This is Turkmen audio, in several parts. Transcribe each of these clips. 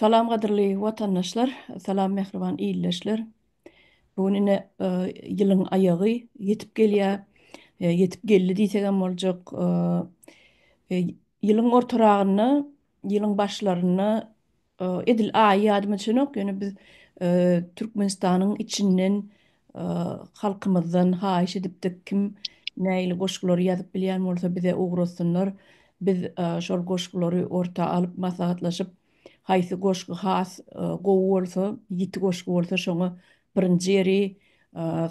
Salam gadyrly watandaşlar, salam mähriban ildeşler. Bu gün ine ýylyň aýagy ýetip gelýär. Ýetip geldi diýsegem boljak. Ýylyň ortaragynda, ýylyň başlarynda Edil aýy ýadyma düşenok, ýöne biz Türkmenistanyň içinden halkymyzdan haýyş edipdik, kim nägili goşgulary ýazyp bilýän bolsa bize ugratsynlar, biz şol goşgulary orta alyp maslahatlaşyp, haýsy goşgy has gowy bolsa, ýiti goşgy bolsa şoňa birinji ýeri,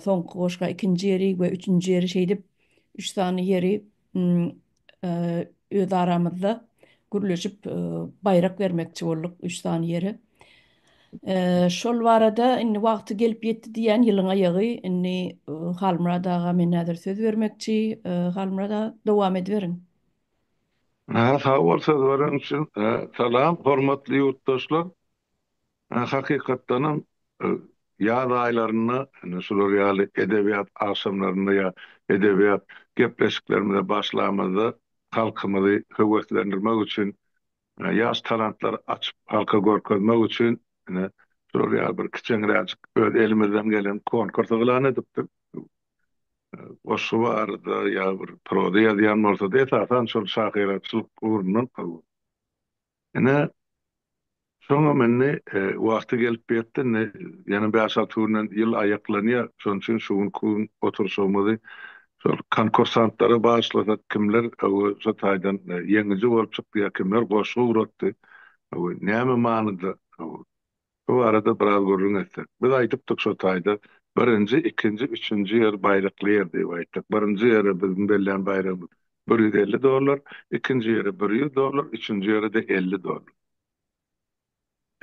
soňky goşga ikinji ýeri we üçünji ýeri şeýdip üç sany ýeri öz aramyzda gürleşip baýrak bermekçi bolduk üç sany ýere. Şol barada indi wagty gelip ýetdi diýýän ýylyň aýagy indi Halmyrat aga men häzir söz bermekçi Halmyrat aga dowam ediberiň. Sag bol söz beren üçin. Salam hormatly ýurtdaşlar. Hakykatdanam, ýaz aýlarynda ine şular ýaly edebiýat agşamlarynda ýa edebiýat gepleşiklerimize başlamyzda halkymyzy höweslendirmek üçin, ýaş talantlary açyp halka görkezmek üçin ine şular ýaly bir kiçeňräjik öz elimizden gelen konkurs yglan edipdik. Goşgy barada ýa bir proza ýazýan bolsady, esasan şol şahyraçylyk ugrundan Ine, soňam indi wagty gelip ýetdi, indi ýene bäş-alty günden ýyl aýaklanýar. Şonuň üçin şu günki gün oturyşygymyzy şol konkursantlara bagyşlasak, kimler şu taýdan ýeňiji bolup çykdy ýa kimler goşgy ugratdy, näme manyda? Bu barada biraz gürrüň etsek. Biz aýdypdyk şo taýda birinji, ikinji, üçünji ýer baýrakly ýer diýip aýtdyk. Birinji ýere biziň bellän baýragymyz bir ýüz elli dollar, ikinji ýere bir ýüz dollar, üçünji ýere-de elli dollar.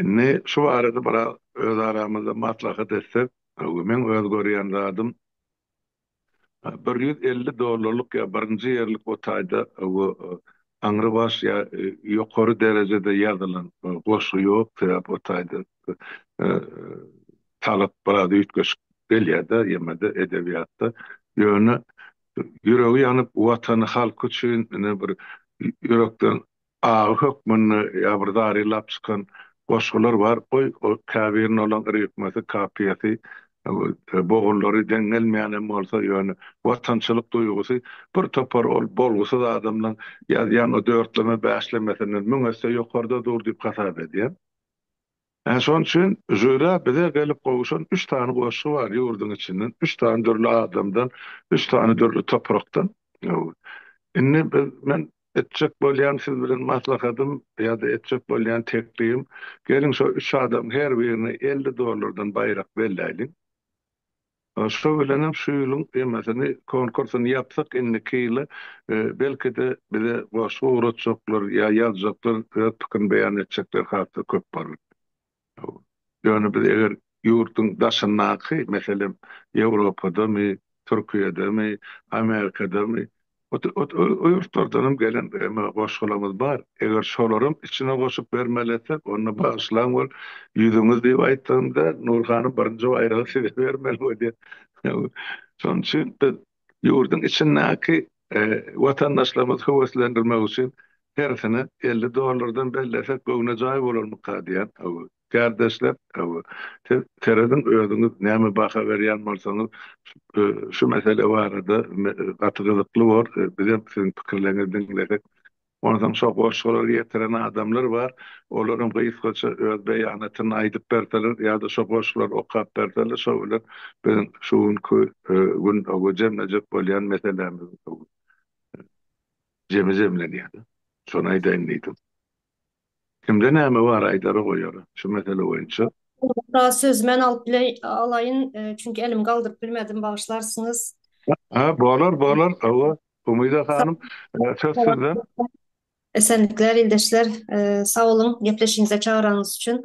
Indi şu barada biraz öz aramyzda maslahat etsek, öňki meň öz görýän zadym, Bir ýüz elli dollarlyk ýa birinji ýerlik o taýda we aňrybaş ýa ýokary derejede ýazylan goşgy ýok, sebäp o taýda talap biraz üýtgeşik gelýärde ýemede edebiýatda. Ýöne ýüregi ýanyp watany halky üçin ine bir ýürekden Agy hökmünde ýa bir zary lap çykan goşgular bar. Goý, käbiriniň olaň ritmesi, kapiýasy, bogunlary deň gelmeýänem bolsa, ýöne watançylyk duýgusy bir topar ol bolgusyz adamlaň ýazýan o dörtleme-bäşlemesinden müň esse ýokarda dur diýip hasap edýän. Ine şonuň üçin žýura bize gelip gowuşan üç sany goşgy bar, ýurduň içinden, üç sany dürli adamdan, üç sany dürli toprakdan. Indi biz, men etjek bolýan siz bilen maslahatym ýa-da etjek bolýan teklibim, geliň şo üç adamyň her birine elli dollardan baýrak belläýliň. Şo bilenem şu ýylyň temasini konkursyny ýapsak indiki ýyla belkide bize goşgy ugratjaklar ýa ýazjaklar öz pikirini beýan etjekler hasda köp bolar. Ýöne biz eger ýurduň daşyndaky meselem Ýewropadamy, Türkiýedemi, Amerikadamy O ýurtlardanam gelen emma goşgularymyz bar. Eger şolaram içine goşup bermeli etsek, onda bagyşlaň ol ýüzüňiz diýip aýtdygym däl, Nur hanym birinji baýragy size bermeli bolýar. Şonuň üçin biz ýurduň içindäki watandaşlarymyzy höweslendirmek üçin hersine elli dollardan bellesek göwnejaý bolarmyka diýýän. Kärdeşler, siz serediň özüňiz näme baha berýän bolsaňyz şu mesele barada gaty gyzykly bor, bizem siziň pikirleriňizi diňlesek. Onsoň şo goşgulary getiren adamlar bar, olaram gysgaça öz beýanatyny aýdyp berseler ýa-da şo goşgulary okap berseler şo bilen biziň şu günki gün jemlejek bolýan meselämiz jemi jemlenýär. Şony aýdaýyn diýdim. Kimde näme bar aýdara goýara şu mesele boýunça. Ugra söz men alyp alaýyn çünki elimi galdyryp bilmedim bagyşlarsyňyz. Ha bolar bolar hawa Umyda hanym söz sizden. Esenlikler ildeşler sag boluň gepleşigiňize çagyranyňyz üçin.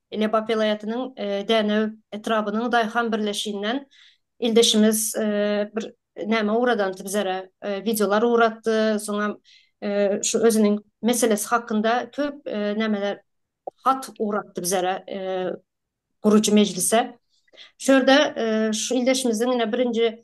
Lebap welaýatynyň Dänew etrabynyň daýhan birleşiginden ildeşimiz bir näme ugradandy bizere, wideolar ugratdy, soňam şu özüniň meselesi hakynda köp nämeler, hat ugratdy bizere, gurujy mejlise. Şu ýerde şu ildeşimiziň ine birinji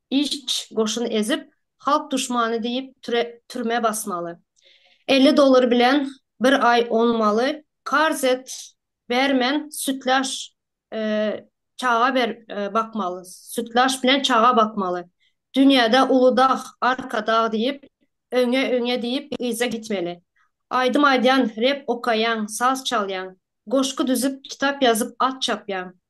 Iş goşun ezip halk duşmany diyip türme basmaly. Elli dolar bilen bir ay onmaly karz et bermen sütlaş çaga ber bakmaly sütlaş bilen çaga bakmaly dünyada uly dag arka dag diyip öňe öňe diyip yza gitmeli aydym aydyyan rep okayan saz çalyan goşgy düzüp kitap yazyp at çapyan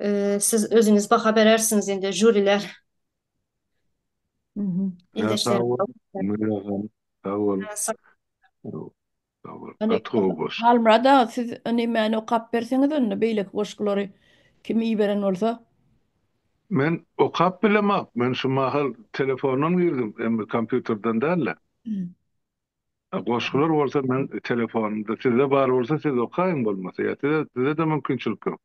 Eee, siz özüniz baha berersiňiz indi, žuriler. Mhm. Ýa, sag Ildeşlerim. bol, Münir agam, sag bol. Sag bol. Sag bol, Indi gaty gowy goşgy. Halmyrat aga, siz indi many okap berseňiz indi, beýleki goşgulary kim iberen bolsa. Men okap bilemok, men şu mahal telefondan girdim, emma kompýuterden däl-de. A goşgular bolsa meň telefonymda sizde bar bolsa siz okaýyň bolmasa ýa size sizede mümkinçilik ýok.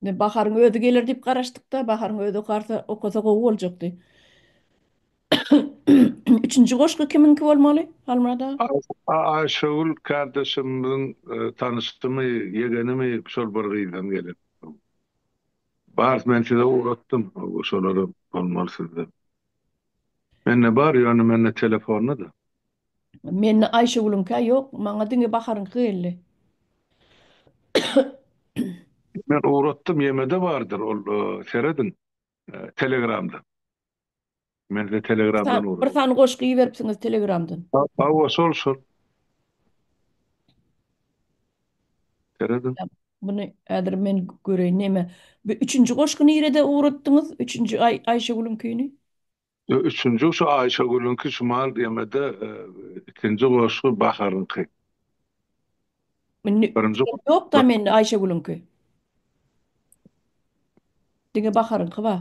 Indi Baharyň özi geler diýip garaşdykda, Baharyň özi okarsa okasa gowy boljakdy. Üçünji goşgy kimiňki bolmaly Halmyrat aga? A Aýşegül kardeşimiziň tanyşymy, ýegenimi şol bir gyzdan gelen. Bar men size ugratdym, şolara bolmaly sizde. Mende bar ýöne mende telefonda-da. Mende Aýşegülüňkä ýok, maňa diňe Baharyňky geldi. Men ugratdym ýemede bardyr ol serediň telegramda. Men size telegramdan ugradym. Bir sany goşgy iberipsiňiz telegramdan. Hawa şol şol. Seredin. Muny häzir men göreýin näme. Bu üçünji goşgy nirede ugratdyňyz? Üçünji Aý Aýşegülüňkini? Ýok, üçünji şu Aýşegülüňki Şumal gemede, ikinji goşgy Baharyňky. Indi ýok-da mende Aýşegülüňki. Diňe Baharyňky bar.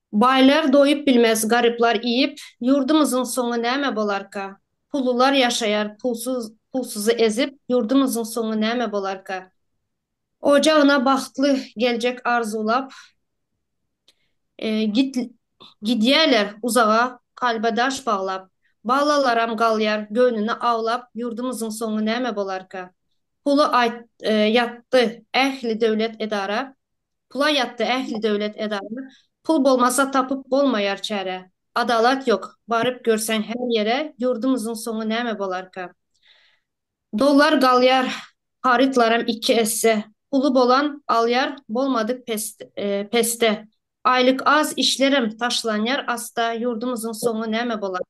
Baýlar doýup bilmez garyplar iýip ýurdumyzyň soňy näme bolarka pullular ýaşaýar pulsuz pulsuzy ezip ýurdumyzyň soňy näme bolarka ojagyna bagtly geljek arzuwlap git gidýäler uzaga kalba daş baglap balalaram galýar göwnüni awlap ýurdumyzyň soňy näme bolarka puly aýt ýatdy ähli döwlet edara Pula ýatdy ähli döwlet edara, Pul bolmasa tapyp bolmaýar çäre. Adalat ýok, baryp görseň her ýere, Ýurdumyzyň soňy näme bolarka? Dollar galýar, harytlaram iki esse, Puly bolan alýar, bolmadyk pesde. Aýlyk az, işlerem taşlanýar asda, Ýurdumyzyň soňy näme bolarka?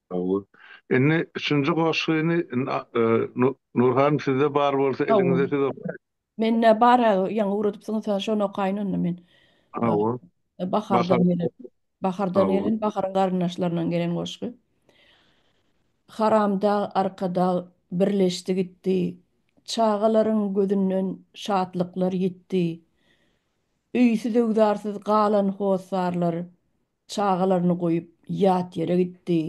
Gowy. Indi üçünji goşgyny Nur hanym sizde bar bolsa eliňizde siz okaýyň. Mende bar ýaňy ugradypsyňyz şony okaýyn onda men. Gowy. Bahardan gelen. Bahardan gelen baharyň garyndaşlaryndan gelen goşgy. Haramdag Arkadag birleşdi gitdi Çagalaryň gözünden şatlyklar ýitdi Öýsüz-öwzarsyz galan hossarlar Çagalaryny goýup ýat ýere gitdi.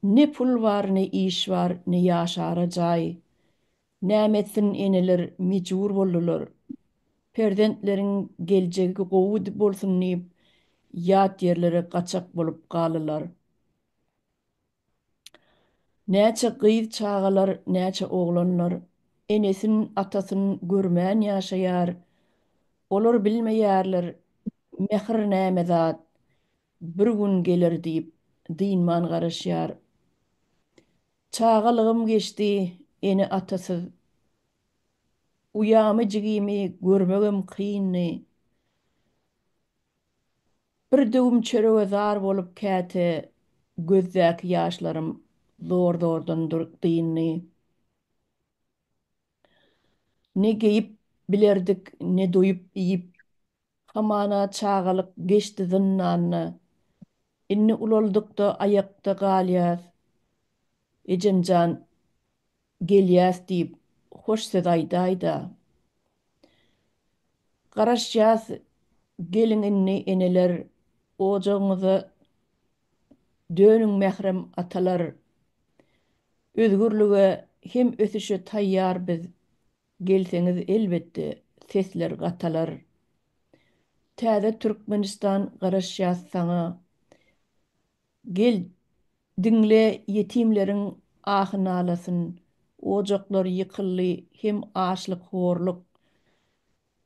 Ne pul bar, ne iş bar, ne ýaşara jaý. Näme etsin eneler mejbur boldular. Perzentleriň geljegi gowy bolsun diýip ýat ýerlere gaçak bolup galdylar. Näçe gyz çagalar näçe oglanlar enesin atasyn görmän ýaşaýar olar bilmeýärler mähir näme zat bir gün geler diýip dynman garaşýar çagalygym geçdi ene atasyz uýamy jigimi görmegem kyndy Bir döwüm çörege zar bolup käte gözdäki ýaşlarym zor-zordan dyndy. Ne geýip bilerdik, ne doýup iýip, hamana çagalyk geçdi zyndanda. Indi ulaldyk-da aýakda galýas. Ejem jan, Gelýäs diýip, hoş söz aýdaý-da. Garaşýas, geliň indi, eneler, ojagyňyza dönüň, mährem atalar! Özgürlige hem ösüşe taýýar biz, gelseňiz, elbetde, sesler gatalar. Täze Türkmenistan, garaşýas saňa, Gel, diňle ýetimleriň ahy-nalasyn, Ojaklar ýykyldy hem açlyk-horluk,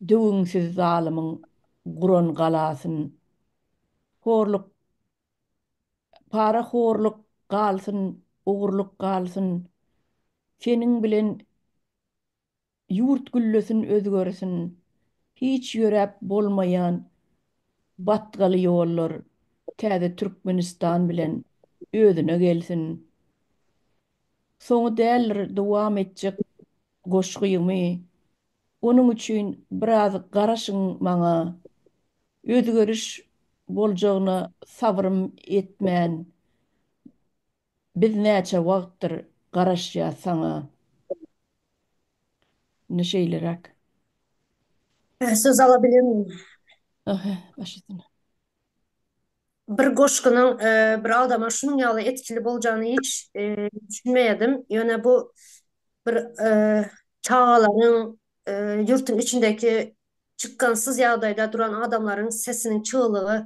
Döwüňsiz zalymyň guran galasyn. Horluk, parahorluk galsyn, ogurluk galsyn, Seniň bilen Ýurt güllesin özgersin hiç ýöräp bolmaýan batgaly ýollar täze Türkmenistan bilen özüne gelsin soňy däldir dowam etjek goşgymy onuň üçin biraz garaşyň maňa özgeriş boljagyna sabrym etmän Biz näçe wagtdyr garaşýas saňa. Indi şeýleräk. Hä söz ala bilemmi. Aha başysyna. Bir goşgynyň bir adama şunuň ýaly etkili boljany hiç düşünmeýädim ýöne bu bir çagalaryň ýurtyň içindeki çykgynsyz ýagdaýda duran adamlaryň sesiniň çyglygy.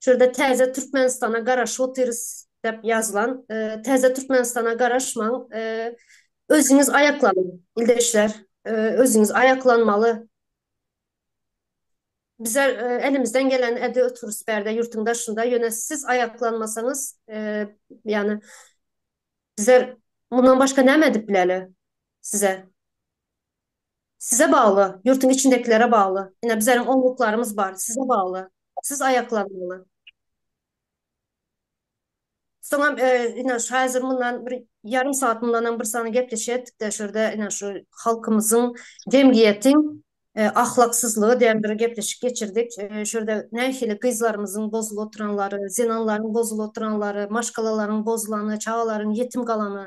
Şu ýerde Täze Türkmenistana garaşyp otyrys dep ýazylan. Täze Türkmenistana garaşmaň. Özüňiz aýaklanyň, ildeşler. Özüňiz aýaklanmaly. Bizler elimizden geleni edip otyrys bärde ýurtuň daşynda. Ýöne siz aýaklanmasaňyz, ýagny bizler mundan başga näme edip bileli size? Size bagly, ýurtuň içindekilere bagly. Ine, bizleriň oňluklarymyz bar, size bagly. Siz aýaklanmaly. Soňam, ine, şu häzir mundan bir ýarym sagat mundanam bir sany gepleşýärdik-de, şu ýerde, ine, şu halkymyzyň, jemgyýetiň ahlaksyzlygy diýen bir gepleşik geçirdik. Şu ýerde nähili gyzlarymyzyň bozulyp oturanlary, zenanlaryň bozulyp oturanlary, maşgalalaryň bozulany, çagalaryň ýetim galany,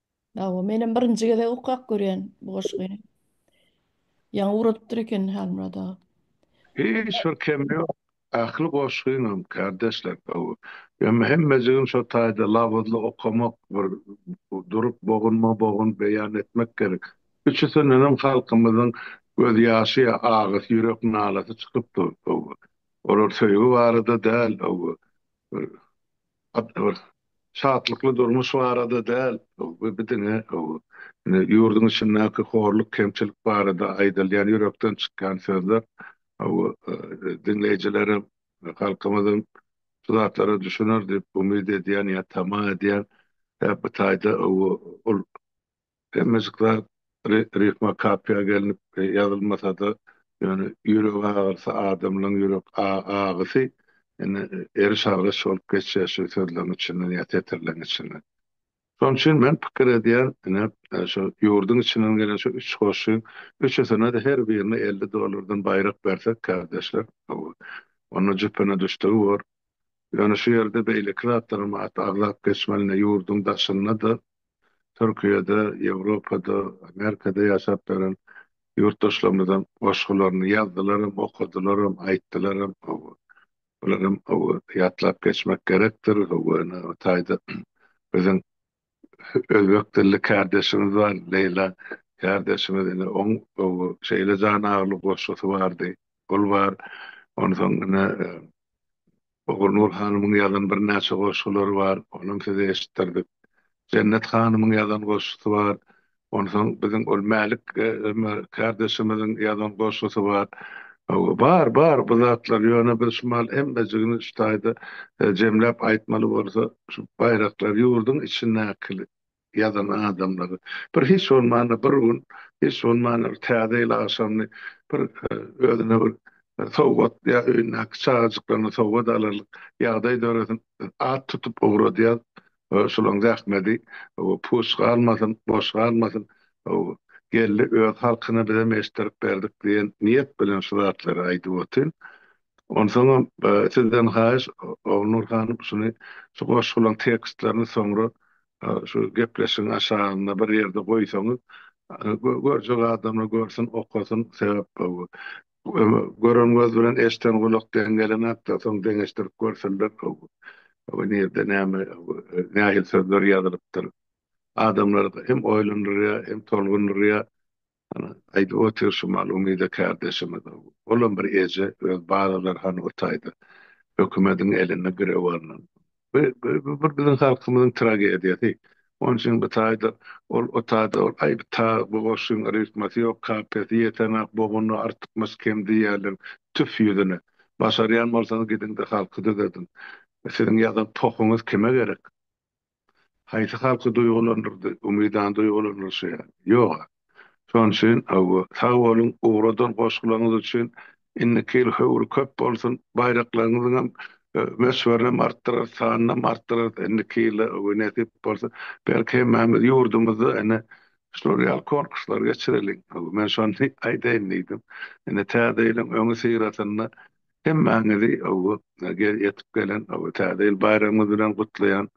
Hawa, menem birinji gezek okap görýän bu goşgy. Ýaňy ugradypdyr eken Halmyrat aga. Hiç bir kemi ýok. Ähli goşgyňam kardeşler gowy. Emma hemmejigim şo taýda labyzly okamak bir durup bogunma bogun beýan etmek gerek. Üçüsindenem halkymyzyň göz ýaşy ýa agysy ýürek nalasy çykyp dur. Olar söýgi barada däl. Bir Gaty bir şatlykly durmuş barada däl, bu bir diňe indi ýurduň içindäki horluk, kemçilik barada aýdylýan ýürekden çykýan sözler. Diňleýjilerem, halkymyzam şu zatlara düşüner diýip umyt edýän ýa tama edýän. Sebäbi bu taýda ol Hemmejik zat ritme kapyýa gelnip ýazylmasada, ýöne ýürek agyrysy adamlaň ýürek agysy indi eriş-argyş bolup geçýär şu sözleň içinden ýa setirleň içinden. Şoň üçin men pikir edýän ine şu ýurduň içinden gelen şu üç goşgy üçüsine-de her birine elli dollardan baýrak bersek kardeşler onda jüpüne düşdügi bor. Ýöne şu ýerde beýleki zatlaram at aglap geçmelini ýurduň daşynda-da, Türkiýede, Ýewropada, Amerikada ýaşap ýören ýurtdaşlarymyzyň goşgularyny ýazdylaram, okadylaram, aýtdylaram. Hawa, bularam ýatlap geçmek gerekdir. Hawa, ine, o taýda biziň Özbek dilli kärdeşimiz bar Leýla kärdeşimiz ine oň şeýle jan agyrly goşgusy bardy. Ol bar. Onsoň ine Ogulnur hanymyň ýazan birnäçe goşgulary bar. Onam size eşitdirdik. Jennet hanymyň ýazan goşgusy bar. Onsoň biziň ol Mälik Ömer kardeşimiziň ýazan goşgusy bar. Bar, bar bu zatlar, ýöne biz şumal hemmejigini şu taýda jemläp aýtmaly bolsa, şu baýraklary ýurduň içindäki ýazan adamlary, bir hiç bolmanda bir gün, hiç bolmanda bir Täze ýyl agşamyny bir özüne bir sowgat ýa öýündäki çagajyklaryna sowgat alarlyk ýagdaý döresin, at tutup ugradýas, Şulaň zähmedi puç galmasyn, boş galmasyn. Geldi öz halkyna bizem eşitdirip berdik diýen niýet bilen şu zatlary aýdyp otyryn. Onsoňam sizden haýyş Ogulnur hanym şuny şu goşgulaň tekstlerini soňra şu gepleşigiň aşagynda bir ýerde goýsaňyz görjek adamlar görsün okasyn sebäp Gören göz bilen eşden gulak deň gelemäpdir, soň deňeşdirip görseler nirde näme nähili sözler ýazylypdyr. Adamlar hem oýlandyrýar, hem tolgundyrýar. Ana, aýdyp otyr şu mal umyda kärdeşimiz. Olam bir eje öz balalary hany o taýda hökümediň eline girewaryndan Bu bir biziň halkymyzyň tragediýasy. Onuň üçin bu taýda ol, o taýda ol, aý, ta bu goşgyň ritmasy ýok, kapiýasy ýetenok, bogunda artykmaç kem diýýärler. Tüf ýüzüne! Başarýan bolsaňyz gidiň-de halky düzediň. Siziň ýazan pohuňyz kime gerek? Haýsy halky duýgulandyrdy? Umydany duýgulandyrşy ýaly. Ýog-a. Şonuň üçin hawa. Sag boluň ugradan goşgularyňyz üçin. Indiki ýyl höwri köp bolsun. Baýraklaryňyzyňam möçberini artdyrarys, sanynam artdyrarys indiki ýylda hawa nesip bolsa. Belki hemmämiz ýurdumyzda ene şular ýaly konkurslar geçireliň. Hawa men şony aýdaýyn diýdim. Ine täze ýylyň öňi syrasynda hemmäňizi hawa ýetip gelen hawa täze ýyl baýramyňyz bilen gutlaýan.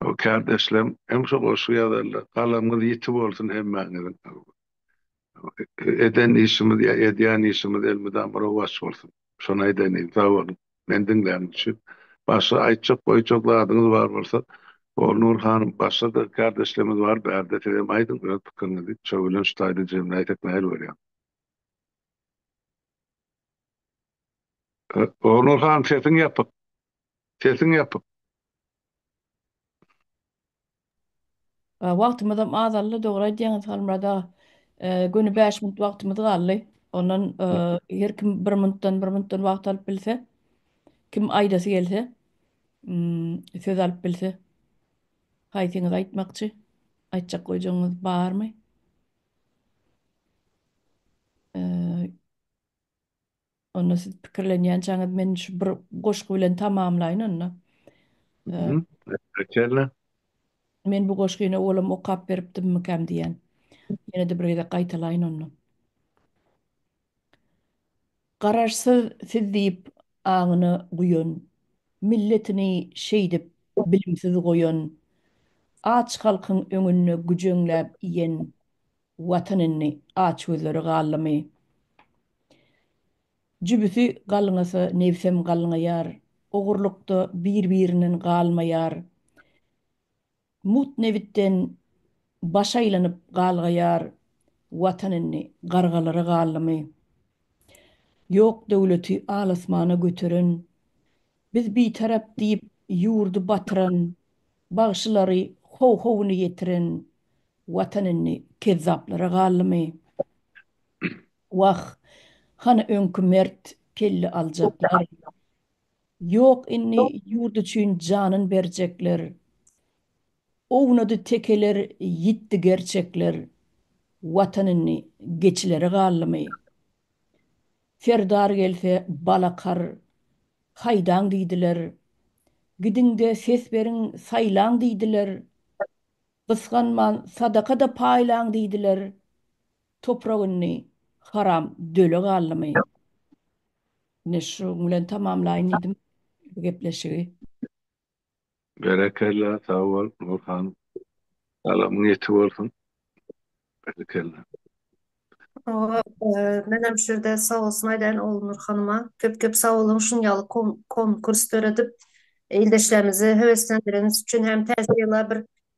O kärdeşlem hem şu goşgy ýazarlar. Galamyňyz ýiti bolsun hemmäňiziň. Eden işimiz ýa edýän işimiz elmydama rowaç bolsun. Şony aýdaýyn diýdim. Sag boluň. Meni diňläniň üçin. Başga aýtjak goýjak zadyňyz bar bolsa Golnur hanym başga-da kärdeşlerimiz bar bärde sizem aýdyň öz pikiriňizi. Şo bilen şu taýda jemläýsek nähili bolýar? Onur han sesiň ýapyk. Sesiň ýapyk. Wagtymyzam azaldy dogry aýdýaňyz Halmyrat aga. Göni bäş minut wagtymyz galdy. Ondan her kim bir minutdan bir minutdan wagt alyp bilse. Kim aýdasy gelse söz alyp bilse. Haýsyňyz aýtmakçy? Aýtjak goýjagyňyz barmy? Onda siz pikirlenýänçäňiz men şu bir goşgy bilen tamamlaýyn onda. Elbetde. Men bu goşgyny owalam okap beripdimmikäm diýýän. Ýene-de bir gezek gaýtalaýyn onda. Garaşsyz siz diýip aňyna guýan, Milletini şeýdip bilimsiz goýan, Aç halkyň öňünde güjeňläp iýen, Watan indi açgözleri galdymy? Jübüsi galňasa nebsem galňaýar, Ogurlykda bir-birinden galmaýar. Mut nebitden baş aýlanyp galgaýar Watan indi gargalara galdymy? Ýok döwleti al-asmana göteren, Biz bitarap diýip ýurdy batyran, Bagşylary how-howuny ýetiren Watan indi kezzaplara galdymy? Wah, hany öňki mert kelle aljaklar? Ýok indi ýurt üçin janyn berjekler Ownady tekeler ýitdi gerçekler Watan indi geçilere galdymy? Serdar gelse balakar haýdaň diýdiler Gidiňde ses beriň saýlaň diýdiler Gysganman sadaka-da paýlaň diýdiler Toprak indi haram döle galdymy? Ine şuň bilen tamamlaýyn diýdim bu gepleşigi. Berekella sag bol Nurhan. Salamyň ýetik bolsun. Berekella. Hawa menem şu ýerde sag bolsun aýdaýyn Ognur hanyma köp köp sag boluň şuň ýaly konkurs döredip ildeşlerimizi höweslendireniz üçin hem täze ýyla bir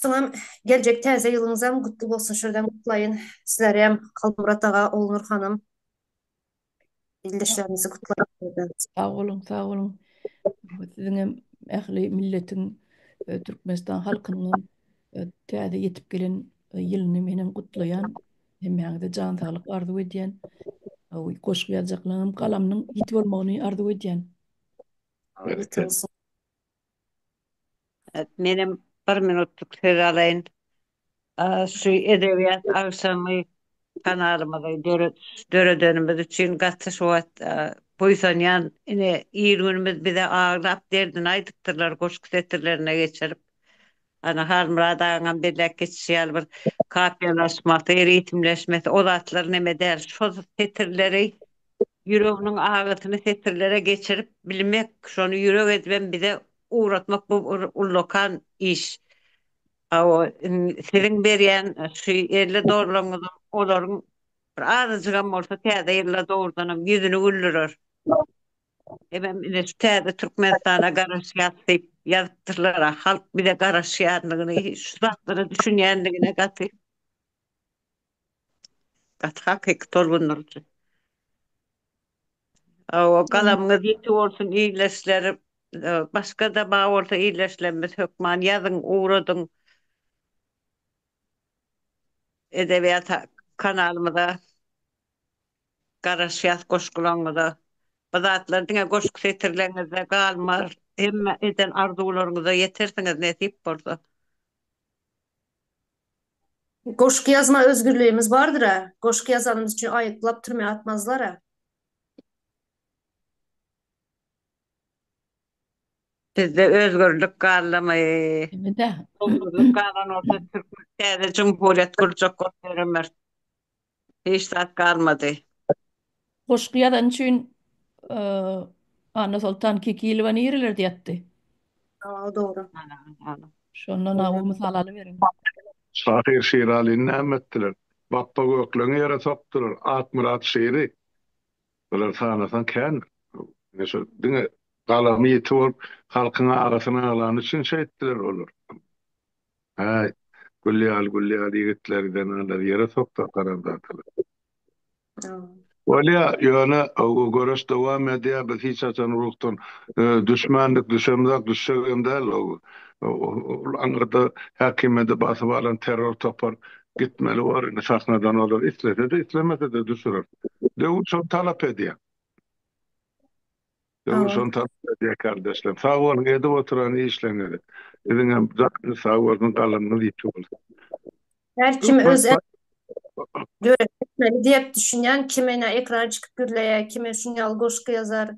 Siziňem geljek täze ýylyňyzam gutly bolsun şuradan gutlaýyn sizlerem Halmyrat aga Olnur hanym ildeşlerimizi gutlaýyn. Sag boluň sag boluň siziňem ähli milletiň Türkmenistan halkynyňam täze ýetip gelen ýylyny menem gutlaýan hemmäňize jan saglyk arzuw edýän goşgy ýazjaklaryňam galamynyň ýiti bolmagyny arzuw edýän. Menem bir minutlyk söz alaýyn. Şu edebiýat agşamy kanalymyzy döredenimiz üçin gaty şu wagt buýsanýan. Ine, il-günümiz bize aglap, derdini aýdypdyrlar, goşgy setirlerine geçirip. Ana Halmyrat agaňam belläp geçişi ýaly bir kafiýalaşmasy, ritmleşmesi o zatlar neme däl. Şo setirleri ýüreginiň agysyny setirlere geçirip bilmek, şony ýürek edibem bize ugratmak bu bir ullakan iş. Hawa, siziň berýän şu ýerli dogrylaryňyzam olaryň bir azajygam bolsa Täze ýylda dogrudanam ýüzüni güldürer. Ebem ine şu täze Türkmenistana garaşýas diýip ýazypdyrlar a halk bize garaşýandygyny şu zatlara düşünýändigine gaty gaty hakyky tolgundyryjy. Hawa galamyňyz ýiti bolsun illeşler başgada bar bolsa illeşlerimiz hökman ýazyň ugradyň edebiýat kanalymyza. Garaşýas goşgularyňyza. Bu zatlar diňe goşgy setirleriňizde galmaz, hemme eden arzuwlaryňyza ýetersiňiz nesip bolsa. Goşgy ýazma özgürligimiz bardyra. Goşgy ýazanymyz üçin aýyplap türmä atmazlara. Bizde özgürlik gallamy. Özgürlik galan bolsa türkmen täze jumhuriýet gurjak bolsa ýöremeris. Hiç zat galmady. Goşgy ýazan üçin Annasoltan Kekilowa nirelerde ýatdy? Ýa dogry. Şondan a bu mysal alyberiň. Şahyr Şiralyny näme etdiler? Bapba Gökleňi ýere sokdular. Akmyrat Şiri. Bular sanasaň kän. Ine şo diňe galamy ýiti bolup halkyň arasyn aglany üçin şeýtdiler olar. Häý, gül ýaly, gül ýaly ýigitleri zenalar ýere soksa haramzadalar. Bolýa, ýöne göreş dowam edýä, biz hiç haçan ruhdan düşmändik, düşemzok, düşjegem däl. Ol aňyrda häkimiýeti basyp alan terror topar gitmeli bor, indi sahnadan olar islese-de, islemese-de düşürer. Döwür şony talap edýä. Döwür şony talap edýär kardeşlerim. Sag boluň edip oturan işleriňize. Siziňem janyňyz sag bolsun, galamyňyz ýiti bolsun. Her kim öz döretmeli diýip düşünýän kime ne ekran çykyp gürleýär, kime şuny ýaly goşgy ýazar.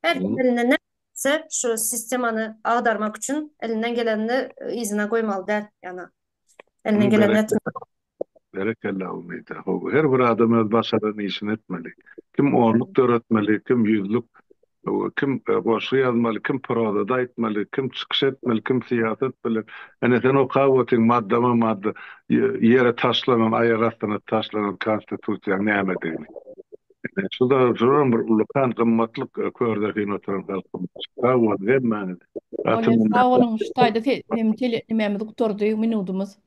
Her kim elinden ne gelse şu sistemany agdarmak üçin elinden gelenini yzyna goýmaly däl. Ýana elinden geleni etmeli. Berekella Umyda how her bir adam öz başaran işini etmeli. Kim onluk döretmeli, kim ýüzlük, kim goşgy ýazmaly, kim prozada aýtmaly, kim çykyş etmeli, kim syýasat bilen. Ene sen okap otyň maddama madda ýere taşlanan aýak astyna taşlanan konstitusiýaň nämedigini. Ene şu da şuram bir ullakan gymmatlyk kördesin oturan halkymyz. Sag boluň hemmäňiz. Gaty minnetdar. Sag boluň şu taýda hem tele nimämiz gutardy minudymyz.